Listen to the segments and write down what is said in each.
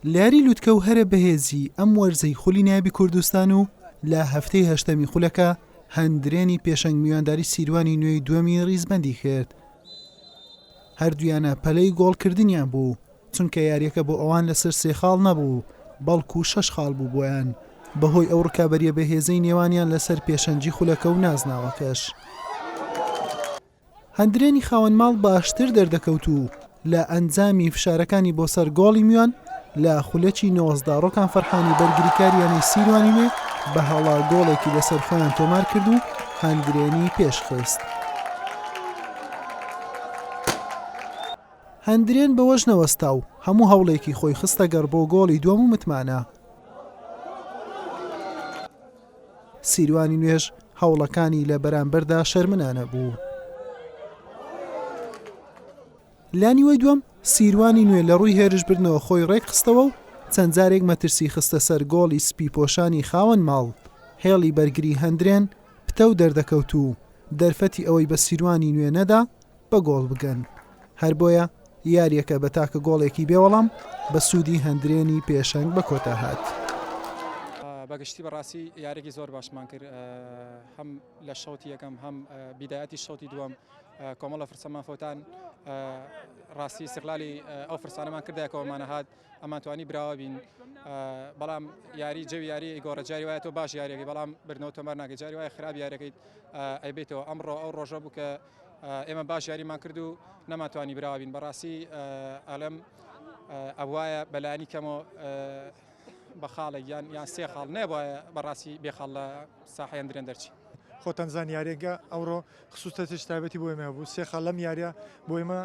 لاری لوتکە و هەرە بەهێزی ئەم وەرزەی خولی نابی کوردستان و لە هەفتەی هەشتەمی خولەکە هەندرێنی پێشنگ میوانداری سیروانی نوێی دووەمی ریزبەندی کرد هەردویانە پەلەی گۆڵکردنیان بوو چونکە یاریەکە بۆ ئەوان لەسەر سێ خاڵ نەبوو بەڵکو و شەش خاڵ بوو بۆیان بەهۆی ئەو ڕکابەریە بەهێزەی نێوانیان لەسەر پێشەنجی خولەکە و نازناوەکەش. هەندرێنی خاوەن ماڵ باشتر دەردەکەوت و لە ئەنجامی فشارەکانی بۆ سەر گۆڵی میوان لە خولەکی نۆزدە ڕۆکان فەرحانی بەرگریکار یانەی سیروانی نوێ بە هەڵە گۆڵێکی لەسەر خۆیان تۆمار کرد و هەندرێنی پێش خست. هەندرێن بەوەش نەوەستا و هەموو هەوڵێکی خۆی خستەگەڕ بۆ گۆڵی دووەم و متمانە. سیروانی نوێش هەوڵەکانی لە بەرامبەردا شەرمنانە بوو. لە نیوەی دووەم سیروانی نوێ لە ڕووی هێرشبردنەوە خۆی ڕێکخستەوە و چەند جارێک مەترسی خستە سەر گۆڵی سپی پۆشانی خاوەن ماڵ، هێڵی بەرگری هەندرێن پتەو دەردەکەوت و دەرفەتی ئەوەی بە سیروانی نوێ نەدا، بە گۆڵ بگەن، هەربۆیە یارییەکە بە تاکە گۆڵێکی بێوەڵام بە سوودی هەندرێنی پێشەنگ بە کۆتا هات. بەگشتی بەڕاستی یاریێکی زۆر باشمان کرد هەم لە شەوتی یەکەم هەم بیداەتی شەوتی دووەم کۆمەڵە فرسەمان خۆتان ڕاستی سقلالی ئەو فرسانەمان کردایەکەوەمانە هاات ئەمانتوانی براوە بین بەڵام یاری جەوی یاری گۆڕە جاری وایە تۆ باش یاریەکەی بەڵام برنەوە تۆمار ناگە جاری وایە خراپ یاریەکەیت ئەیبێتەوە ئەمڕۆ ئەو ڕۆژە بوو کە ئێمە باش یاریمان کرد و نەماتوانی براوە بین بەڕاستی ئەلم ئەوایە بەلانی کەمەوە بە خاڵێک یان یان سێ خاڵ نەبە بەڕاستی بێ خاڵ لە ساحیان درێن دەرچی خۆتان زانیارێکە ئەوڕۆ خصوصەتش تابەتی بۆ ئێمە بوو سێ خاڵ لەم یاریە بۆ ئێمە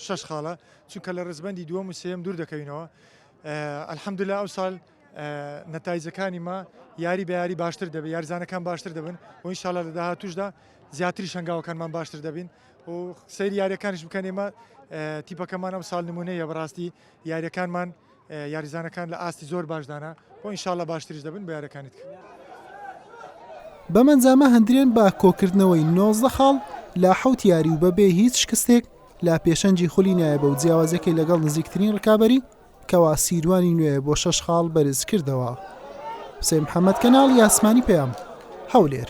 شش خاڵە چونکە لە ڕزبندی دووەم و سێم دوور دەکەوینەوە ئەلحەمدلا ئەو سال نەتایجەکانی ما یاری بە یاری باشتر دەبێت یاریزانەکان باشتر دەبن و ئینشاالله لە داهاتوشدا زیاتری شنگاوەکانمان باشتر دەبین و سەیری یاریەکانش بکەن ئێمە تیپەکەمان ئەم ساڵ نمونەیە بەڕاستی یاریەکانمان یاریزانەکان لە ئاستی زۆر باشدانە و ئینشاالله باشتریش دەبن بە یارەکانیت کرد. بەمەنجامە هەندرێن بە کۆکردنەوەی نۆزدە خاڵ لە حەوت یاری و بەبێ هیچ شکستێک لە پێشەنگی خولی نایەبە و جیاوازەکەی لەگەڵ نزیکترین ڕکابەری کەوا سیروانی نوێ بۆ شەش خاڵ بەرز کردەوە. حوسێن محەمەد کەناڵی ئاسمانی پەیام، هەولێر.